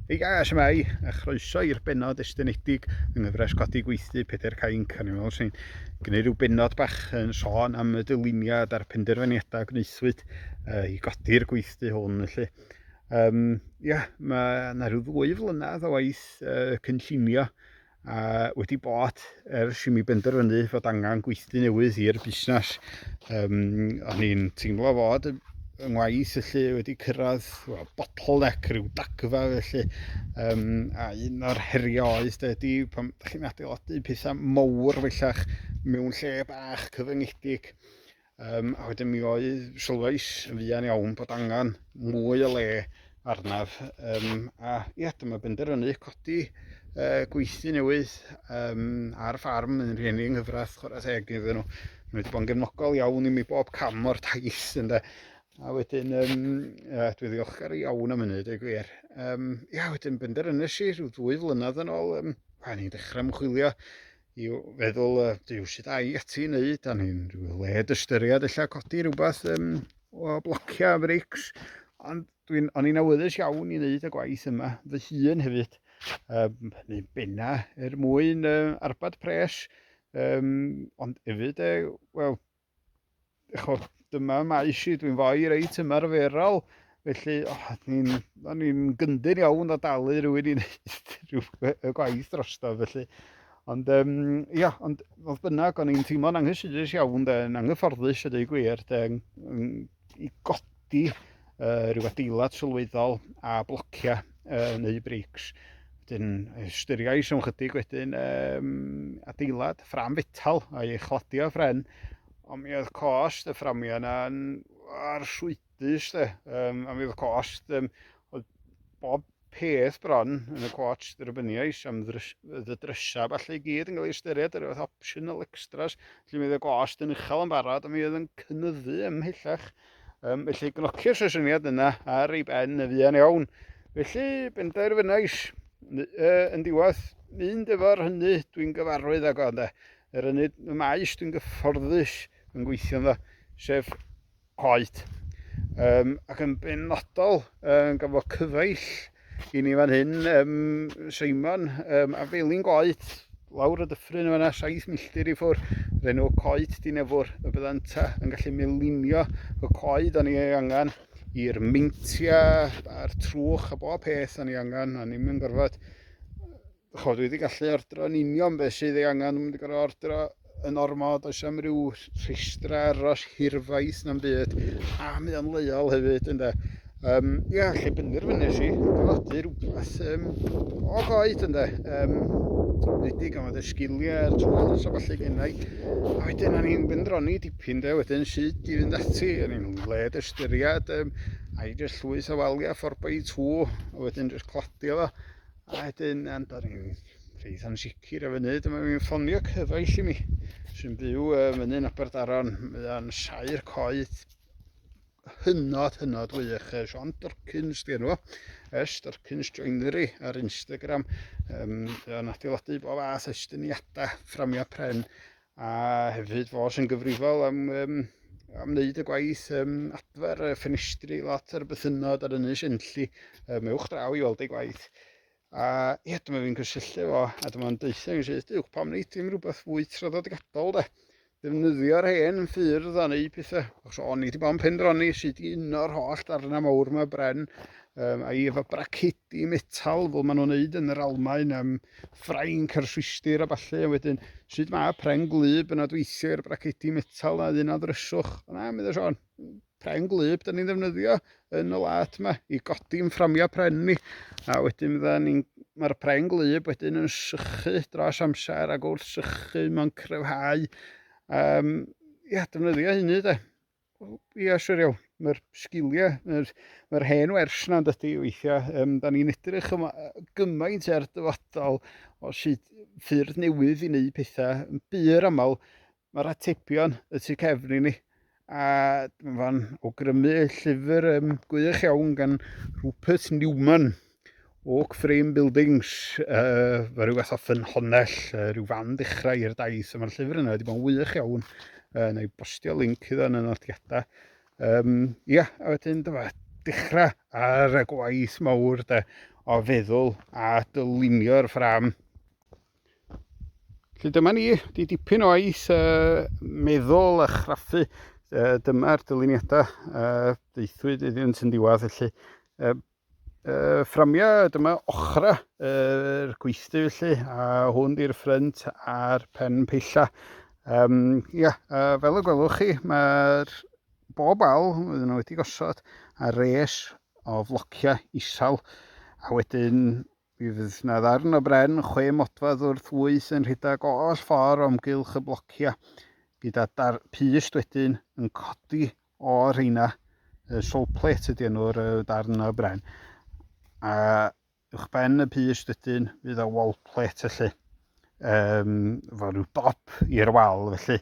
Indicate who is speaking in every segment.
Speaker 1: Hei guys, shwmae, a chroeso i'r bennod estynedig yng nghyfres Codi Gweithdy Pedair Cainc, a ni'n meddwl sy'n gwneud rhyw bennod bach yn sôn am y dyluniad a'r penderfyniadau gwnaethwyd uh, i godi'r gweithdy hwn, felly. Um, ia, mae yna rhyw ddwy flynedd o waith uh, cynllunio a wedi bod ers i mi benderfynu fod angen gweithdy newydd i'r busnes. Um, o'n i'n teimlo fod yng ngwaith felly wedi cyrraedd well, bottleneck rhyw dagfa felly um, a un o'r heriau oedd de, di pan ydych chi'n adeiladu pethau mowr fellach mewn lle bach cyfyngedig Um, a wedyn mi o'i sylwais yn fuan iawn bod angen mwy o le arnaf. Um, a ia, dyma benderfynu codi uh, gweithdy newydd um, ar ffarm yn rhieni yng nghyfraith chwarae teg iddyn nhw. Mae wedi bod yn gefnogol iawn i mi bob cam o'r taith ynde. A wedyn, um, uh, dwi ddiolchgar iawn am hynny, dweud gwir. Um, ia, wedyn benderfynus i rhyw ddwy flynedd yn ôl, um, pan i'n dechrau ymchwilio i feddwl, uh, dyw sydd a'i ati i wneud, a ni'n rhyw led ystyried illa codi rhywbeth um, o blocio a breics, ond dwi'n o'n i'n awyddus iawn i wneud y gwaith yma, fy hun hefyd, um, neu benna er mwyn uh, arbad pres, um, ond hefyd, uh, wel, chod, dyma maes i, dwi'n fwy reit ymarferol, felly oh, ni'n ni gyndyn iawn o dalu rhywun i wneud rhyw y gwaith drosto, felly. Ond, um, ia, ond fodd bynnag, o'n i'n teimlo'n anghysurus iawn, de, yn anghyfforddus, y dweud gwir, de, i godi di, uh, rhyw adeilad sylweddol a blocia uh, neu breics. Wedyn, ystyriais am chydig wedyn um, adeilad ffram fetal a ei chladio ffren, ond mi oedd cost y fframio yna yn arswydus de, um, a mi oedd cost um, oedd bob peth bron yn y cwotsh dderbyniais am ddy drysau falle i gyd yn cael ei ystyried yr oedd optional extras lle mi oedd y gost yn uchel yn barod a mi oedd yn cynyddu ymhellach um, felly gnocio'r sesiwniad yna ar ei ben y fuan iawn felly benderfynais uh, yn diwedd mynd efo'r hynny dwi'n gyfarwydd ag o ynde yr ynny y maes dwi'n gyfforddus yn gweithio ynddo sef oed, um, ac yn benodol um, gan fod cyfaill i ni fan hyn, um, Simon um, a Felin Goed, lawr y dyffryn yma 7 milltir i ffwr, yr enw coed dinefwr y byddant yn gallu melinio y coed o'n i ei angen i'r meintiau a'r trwch a bob peth o'n i angen, o'n i'n mynd gorfod Chod, wedi gallu ordro yn union beth sydd ei angen, mynd i gorau ordro yn ormod, does am ryw rhestra aros hirfaith na'n byd, a mi o'n leiol hefyd, ynddo. Um, ia, lle bynnu'r fyny si, adeiladu rhywbeth um, o goed, ynddo. Um, wedi gan fod y sgiliau, y tools a falle gennau. A wedyn, o'n i'n mynd roni dipyn, de, wedyn sut i fynd ati, o'n i'n led ystyried, um, a i jyst llwyth o waliau 4x2, a wedyn jyst cladio fo A wedyn, um, da ni'n rhaid yn sicr efo wneud, mae mi'n ffonio cyfaill i mi, sy'n byw uh, myny'n Aberdaron, mae'n sair coed hynod, hynod wych. Sean Durkins, di enw, es Durkins Joinery ar Instagram. Um, yn adeiladu bob fath estyniadau, fframio pren, A hefyd fo sy'n gyfrifol am um, am wneud y gwaith um, adfer y ffenestri lot ar y bythynod ar ynys enlli um, ewch draw i weld ei gwaith. A ie, dyma fi'n cysylltu fo, a dyma yn deutha yn syth, diwch pam wneud dim rhywbeth fwy traddodiadol de. Defnyddio'r hen ffyrdd a neu pethau. Os o'n i wedi bod yn pendroni sydd i uno'r holl darnau mawr yma bren um, a'i efo bracedi metal fel maen nhw'n neud yn yr Almaen um, Ffrainc a'r Swistir a ballu, a wedyn, sut mae pren gwlyb yn adweithio i'r bracedi metal a un a ddryswch? O na, meddai Siôn, pren gwlyb da ni'n ddefnyddio yn y lad yma i godi'n fframiau pren ni. A wedyn fydda ni'n mae'r pren gwlyb wedyn yn sychu dros amser ac wrth sychu mae'n cryfhau. Um, ia, defnyddio hynny de. Wel, ia, siwr iawn. Mae'r sgiliau, mae'r, mae hen wers na yn dydy weithiau. Um, da ni'n edrych yma gymaint ar dyfodol o sut ffyrdd newydd i wneud pethau. Yn byr aml, mae'r atebion y tu cefn i ni. A mae'n fan awgrymu llyfr um, gwych iawn gan Rupert Newman, Oak Frame Buildings, uh, fe rhyw fath o ffynhonnell, uh, rhyw fan ddechrau i'r daith, a mae'r llyfr yna wedi bod yn wych iawn, uh, neu bostio link iddo yn y nodiadau. Um, ia, a wedyn dyma, dechrau ar y gwaith mawr de, o feddwl a dylunio'r ffram. Felly dyma ni, di dipyn o aeth uh, meddwl a chraffu, uh, dyma'r dyluniadau uh, deithwyd iddyn nhw'n diwedd, felly uh, Uh, fframiau, dyma ochra yr uh, gweithdy felly, a hwn di'r ffrynt a'r pen peilla. Um, ia, uh, fel y gwelwch chi, mae'r bob al oedden nhw wedi gosod ar res o flociau isal, a wedyn mi fydd yna ddarn o bren chwe modfedd wrth wyth yn rhedeg oll ffordd o'm gylch y blociau, gyda dar pust wedyn yn codi O rheina, y sole plate ydy enw'r darn o bren. A uwch ben y pys dydyn fydd o wall plate felly. Um, fo rhyw dop i'r wal felly.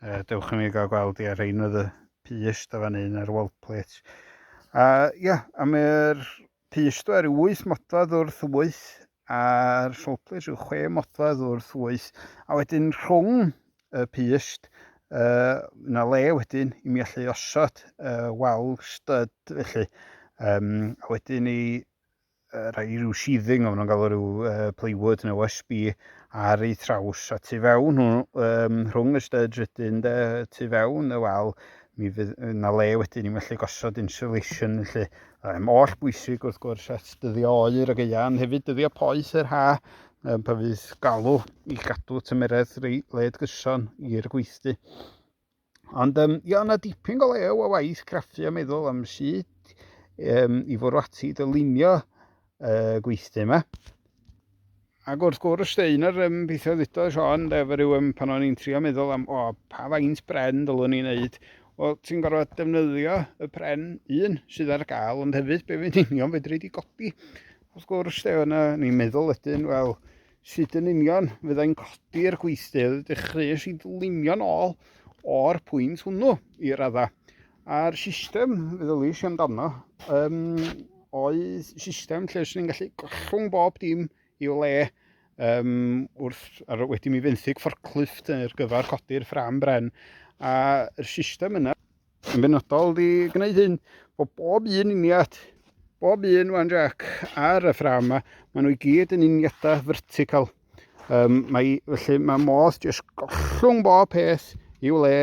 Speaker 1: Uh, dewch i mi gael gweld i ar rhain oedd y pys da fan un ar wall plate. A ia, yeah, a mae'r Pysgod ar wyth modfedd wrth wyth a'r sowplys yw chwe modfedd wrth wyth a wedyn rhwng y pyst uh, yna le wedyn i mi allu osod uh, wal stud felly um, a wedyn i uh, rai rhyw sheathing o'n nhw'n galw rhyw uh, plywood neu OSB ar ei thraws a tu fewn nhw um, rhwng y studs wedyn de, tu fewn y wal mi fydd yna le wedyn i mi allu gosod insulation felly Mae'n oll bwysig wrth gwrs at dyddio oer y geia, ond hefyd dyddio poeth yr ha, um, pan fydd galw i gadw tymeredd led gyson i'r gweithdy. Ond um, ia, yna dipyn go lew o waith craffu a meddwl am sut um, i fwrw ati dylunio uh, gweithdy yma. Ac wrth gwrs, de, un o'r um, pethau ddito Sean, de, fe rhyw um, pan o'n i'n trio meddwl am, o, pa faint bren dylwn ni'n neud, wel, ti'n gorfod defnyddio y pren un sydd ar gael, ond hefyd be fi'n union fedri di godi. Wrth gwrs, de, yna, ni'n meddwl ydyn, wel, sut yn union fyddai'n codi'r gweithdy, dechreuais i ddlinio'n ôl o'r pwynt hwnnw i radda. A'r system, fe ddylais i amdano, um, oedd system lle sy'n ni'n gallu gollwng bob dim i'w le um, wrth, ar, wedi mi fenthyg fforclift ar gyfer codi'r ffram bren. A'r system yna yn benodol di gwneud hyn, bod bob un uniad, bob un wan jac ar y ffram yma, maen nhw i gyd yn uniadau vertical. Um, mae, felly mae modd jyst gollwng bob peth i'w le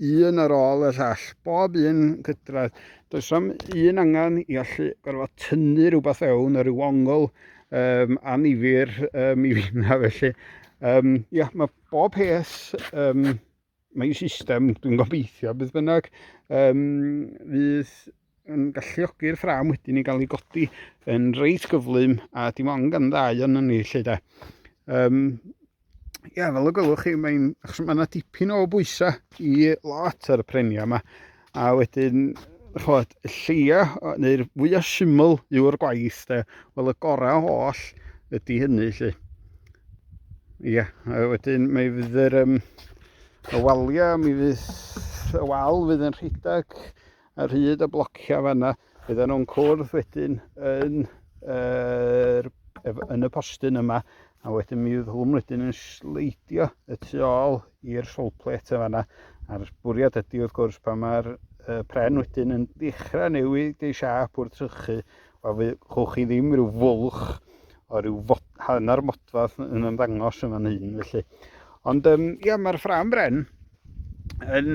Speaker 1: un ar ôl y llall, bob un cydradd. Does am un angen i allu gorfod tynnu rhywbeth fewn ar ryw ongl um, anifir um, i finna felly. Um, ia, mae bob peth um, Mae'n system, dwi'n gobeithio, beth bynnag, um, fydd yn galluogi'r ffram wedyn i gael ei godi yn reit gyflym a dim ond gan ddau o'n ni lle da. Um, ia, fel y gwelwch chi, mae'n, achos mae yna dipyn o bwysau i lot ar y prenia yma, A wedyn, chod, y lleia, neu'r fwya syml yw'r gwaith, de. Wel, y gorau oll ydy hynny, lle. Ia, a wedyn mae fydd yr, um, y walia, mi fydd y wal fydd yn rhedeg ar hyd y blocia fanna. Byddan nhw'n cwrdd wedyn yn, er, yn y postyn yma, a wedyn mi fydd hwn wedyn yn sleidio y tu ôl i'r solplet yma yna. A'r bwriad ydy wrth gwrs pan mae'r uh, pren wedyn yn dechrau newid ei siap wrth trychu, wel fe chwch chi ddim rhyw fwlch o ryw fod, hanner modfadd yn ymddangos yn fan hyn felly. Ond um, ia, mae'r ffram bren yn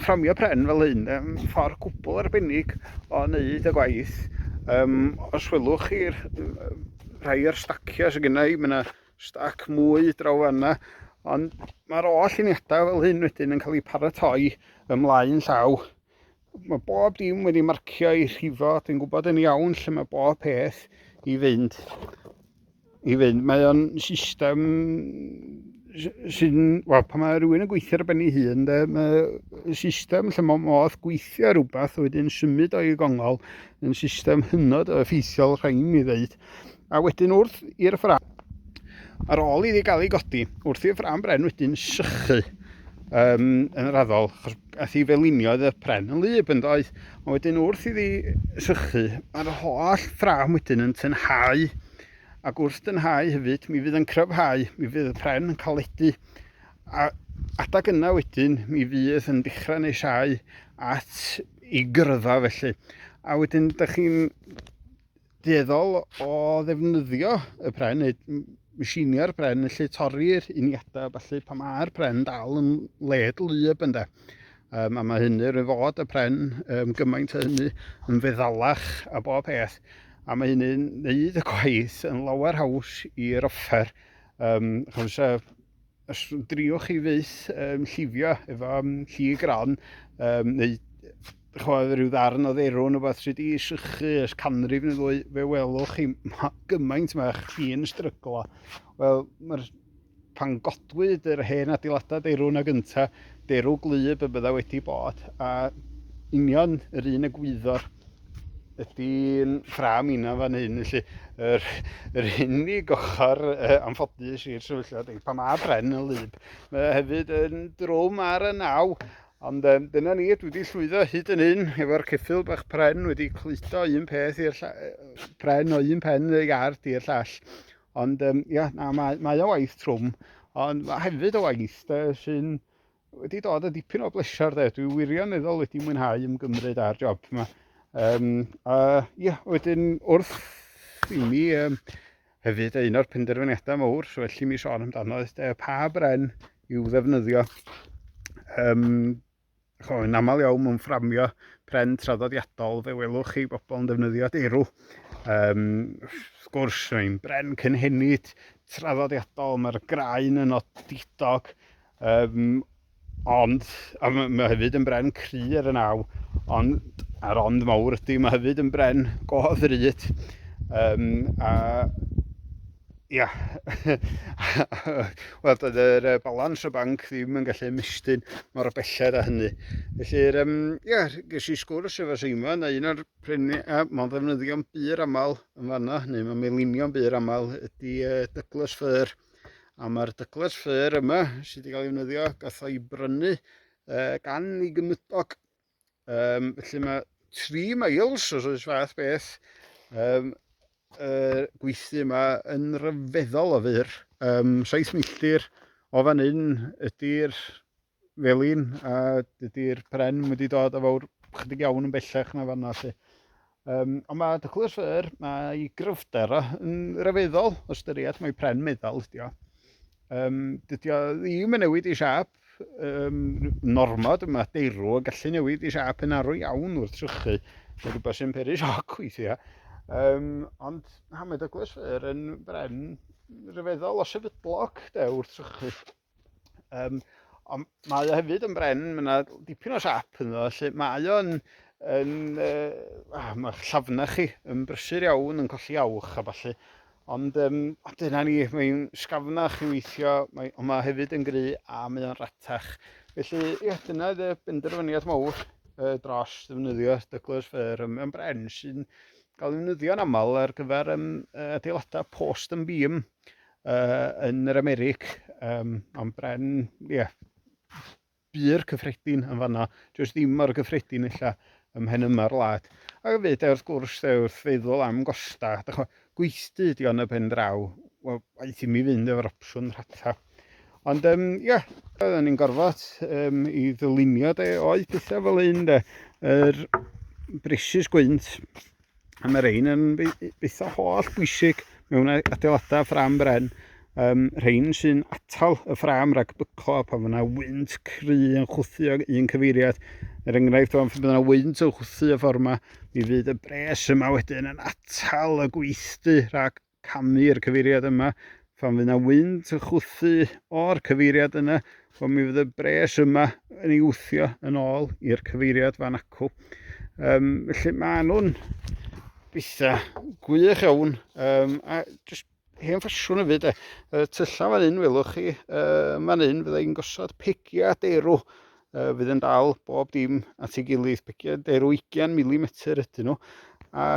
Speaker 1: fframio pren fel hyn, yn ffordd gwbl arbennig o wneud y gwaith. Um, os welwch chi'r rhai o'r stacio sydd gennau, i, mae yna stac mwy draw fanna, ond mae'r oll uniadau fel hyn wedyn yn cael eu paratoi ymlaen llaw Mae bob dim wedi marcio i rhifo, dwi'n gwybod yn iawn lle mae bob peth i fynd. I fynd, mae o'n system sy'n, wel, pan mae rhywun yn gweithio ar ben ei hun, de, mae system lle mae modd gweithio rhywbeth wedyn symud o'i gongol yn system hynod o effeithiol rhaid mi ddeud. a wedyn wrth i'r ffram, ar ôl iddi gael ei godi, wrth i'r ffram bren wedyn sychu um, yn yr addol, achos ath i felinio oedd y pren yn lyb yn doedd, a wedyn wrth iddi sychu, mae'r holl ffram wedyn yn tynhau, ac wrth dynhau hefyd, mi fydd yn cryfhau, mi fydd y pren yn caledu, a adag yna wedyn, mi fydd yn dechrau neu siau at i gyrfa felly. A wedyn, ydych chi'n dueddol o ddefnyddio y pren neu machiniau'r pren lle torri'r uniadau a falle pan mae'r pren dal yn led lyb ynddo. Um, a mae hynny rwy'n fod y pren um, gymaint o hynny yn feddalach a bob peth a mae hynny'n neud y gwaith yn lawer haws i'r offer. Um, chos, uh, Os driwch chi fyth um, llifio efo um, lli gron, um, neu chwaith rhyw ddarn o dderw yn rhywbeth sydd wedi sychu ys canrif neu ddwy, fe welwch chi ma, gymaint mae chi'n stryglo. Wel, mae'r pan godwyd yr hen adeiladau derw na gynta, derw glyb y bydda wedi bod, a union yr un y gwyddo'r Ydy'n ffram inna fan hyn, felly yr, yr unig ochr uh, anffodus i'r sefyllfa ydy pan mae bren yn lyb. Mae hefyd yn drwm ar y naw, ond um, dyna ni, dwi wedi llwyddo hyd yn hyn efo'r ceffil bach pren wedi cludo un peth i'r pren o un pen y iard i'r llall. Ond um, ia, na, mae, mae o waith trwm, ond mae hefyd o waith sy'n wedi dod â dipyn o bleser de. Dwi wirioneddol wedi mwynhau ymgymryd â'r job yma. Um, a ia, wedyn wrth i mi um, hefyd un o'r penderfyniadau mawr, so felly mi sôn amdano, oedd de, pa bren i'w ddefnyddio. Um, cho, yn aml iawn mewn fframio pren traddodiadol, fe welwch chi bobl yn defnyddio deirw. Um, wrth gwrs, mae'n bren cynhenid, traddodiadol, mae'r graen yn odidog, Yym, ond, a mae hefyd yn bren cry ar y naw, ond, a'r ond mawr ydy, mae hefyd yn bren go ddrud. Um, a, ia, wel, doedd yr uh, balans o banc ddim yn gallu ymestyn mor belled a hynny. Felly, um, ia, ges i sgwrs efo Seima, na un o'r prenu, a mae'n ddefnyddio'n bur aml yn fanna, neu mae'n melinio'n bur aml, ydy uh, Douglas Fir. A mae'r dycles ffyr yma sydd wedi cael ei wnyddio, gath o'i brynu uh, gan ei gymydog. Um, felly mae 3 miles os oes fath beth um, uh, gweithdy yma yn rhyfeddol o fyr. Um, 7 milltir o fan hyn ydy'r fel un, a dydy'r pren wedi dod a fawr chydig iawn yn bellach na fanna lle. Um, ond mae dychlus yr, mae gryfder yn rhyfeddol o styried, mae pren meddal ydi o. Um, dydy o ddim yn newid i siap, um, normod, mae deirw o gallu newid i siap yn arw iawn wrth trychu, mae rhywbeth sy'n peri sioc weithiau. Um, ond na, mae dychlus yr yn bren rhyfeddol o sefydlog de, wrth trychu. Um, ond mae o hefyd yn bren, mae yna dipyn o siap yn o, lle mae o'n yn, uh, ah, mae'ch llafna chi yn brysur iawn, yn colli awch a falle. Ond um, dyna ni, mae'n sgafnach i weithio, mae, ond mae hefyd yn gry a mae o'n ratach. Felly, ie, dyna y benderfyniad mawr uh, dros ddefnyddio Douglas Fir. Mae'n bren sy'n cael ei ddefnyddio'n aml ar gyfer um, adeiladau post yn bîm. uh, yn yr Americ, um, ond bren, ie, yeah, bu'r cyffredin yn fanna, jyst ddim mor gyffredin illa ym mhen yma'r wlad. Ac y fyd, wrth gwrs, de, wrth feddwl am gosta, dych chi'n gweithdy ydi o'n y pen draw, wel, aeth i mi fynd efo'r opsiwn rhatha. Ond, um, ie, yeah, oedden ni'n gorfod um, i ddylunio, de, oedd pethau fel un, de, yr er, brisus gwynt, A mae rhain yn eitha holl bwysig mewn adeiladau ffram bren. Um, rhain sy'n atal y ffram rhag byco pan fyna wynt cry yn chwthu ag un cyfeiriad. Er enghraifft, pan fyna wynt yn chwthu y ffordd yma, mi fydd y bres yma wedyn yn atal y gweithdy rhag camu i'r cyfeiriad yma, phan fydd na wynt yn chwthu o'r cyfeiriad yna, wel mi fydd y bres yma yn ei wthio yn ôl i'r cyfeiriad fan acw. Um, felly mae nhw'n bitha gwych iawn, um, a just hen ffasiwn y fyd e. Y tyllau fan hyn, welwch chi, uh, fan hyn fydda i'n gosod pegiau derw, uh, fydd yn dal bob dim at ei gilydd, pegiau derw 20 mm ydyn nhw, a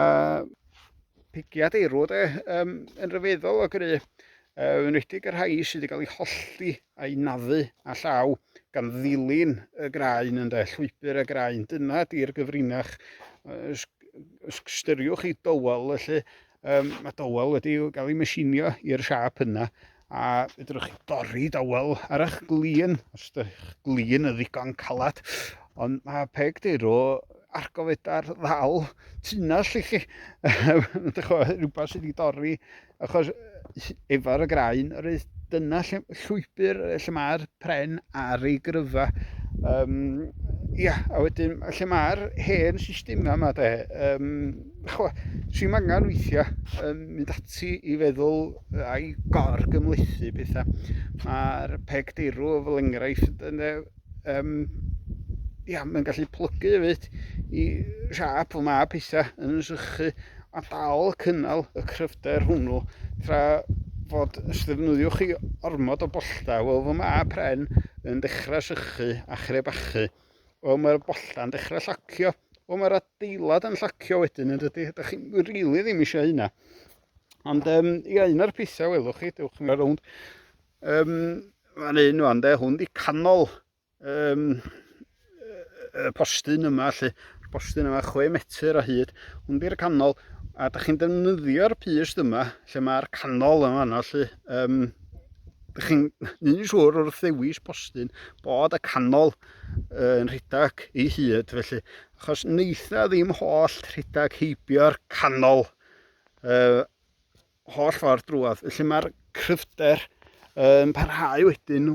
Speaker 1: pigiad eirw de, um, yn rhyfeddol o gry, uh, yn redig y rhai sydd wedi cael ei hollti a'i naddu a llaw gan ddilyn y graen yn de, llwybr y graen. Dyna di'r gyfrinach. Uh, styriwch i dywel, felly um, mae dywel wedi cael ei mesinio i'r siap yna A fedrwch chi dorri dawel ar eich glin, os ydych glin yn ddigon calad. Ond mae peg deirw ar gofeda'r ddal tunnell i chi. Rhywbeth sydd wedi dorri, achos efo'r graen, yr eith dyna lle, llwybr lle mae'r pren ar ei gryfa. Um, ia, a wedyn lle mae'r hen systemau yma de, um, chwa, sy'n angen weithiau um, mynd ati i feddwl a'i gor gymlethu pethau. Mae'r peg deirw fel enghraifft yn um, ia, mae'n gallu plygu hefyd i siap o mae pethau yn sychu a dal cynnal y cryfder hwnnw tra fod os ddefnyddiwch chi ormod o bollta, wel fy mae pren yn dechrau sychu a chrebachu. Wel mae'r bolla'n dechrau llacio. Wel mae'r adeilad yn llacio wedyn yn dydy. Ydych chi'n rili really ddim eisiau hynna. Ond um, ia, un o'r pethau welwch chi, dewch chi'n rownd. Um, Mae'n un o'n de, hwn di canol um, y postyn yma, lle postyn yma 6 metr o hyd. Hwn di'r canol, a da chi'n defnyddio'r pys yma, lle mae'r canol yma, lle um, Ydych chi'n neud yn siŵr wrth ddewis postyn bod y canol yn rhedeg ei hyd felly achos wneitha ddim holl rhedeg heibio'r canol uh, holl ffordd drwodd. Felly mae'r cryfder yn parhau wedyn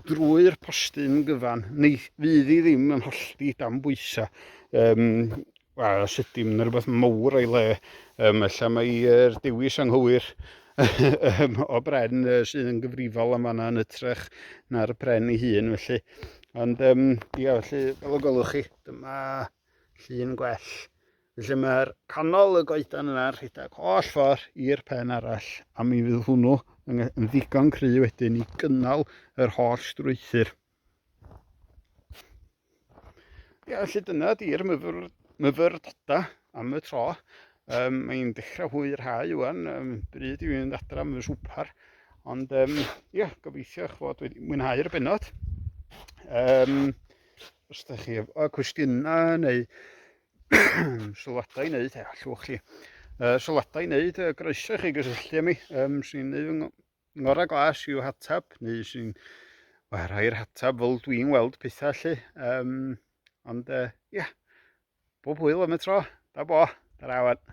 Speaker 1: drwy'r postyn gyfan. Neu fydd hi ddim yn hollti dan bwysau. Um, A sut dim yn rhywbeth mawr o'i le, um, ella mae'r dewis anghywir um, o bren uh, sydd yn gyfrifol am fanna yn ytrach na'r pren ei hun, felly. Ond, um, ia, felly, fel y gwelwch chi, dyma llun gwell. Felly mae'r canol y goedan yna rhedeg holl ffordd i'r pen arall, a mi fydd hwnnw yn ddigon cry wedyn i gynnal yr holl strwythyr. Ia, felly dyna di'r myfyr, myfyrdodau am y tro. Um, Mae'n dechrau hwy yr hau ywan, um, bryd i fynd adra am y swpar. Ond um, ia, gobeithio eich fod wedi mwynhau'r benod. Um, os ydych chi efo cwestiynau neu sylwadau i wneud, e, allwch chi uh, sylwadau i wneud, uh, groeso chi gysylltu â mi. Um, Swn i'n Ngorau glas yw hatab, neu sy'n well, rhai'r hatab fel dwi'n weld pethau lle. Um, ond, uh, ia, yeah. bob hwyl am y tro. Da bo, da rawan.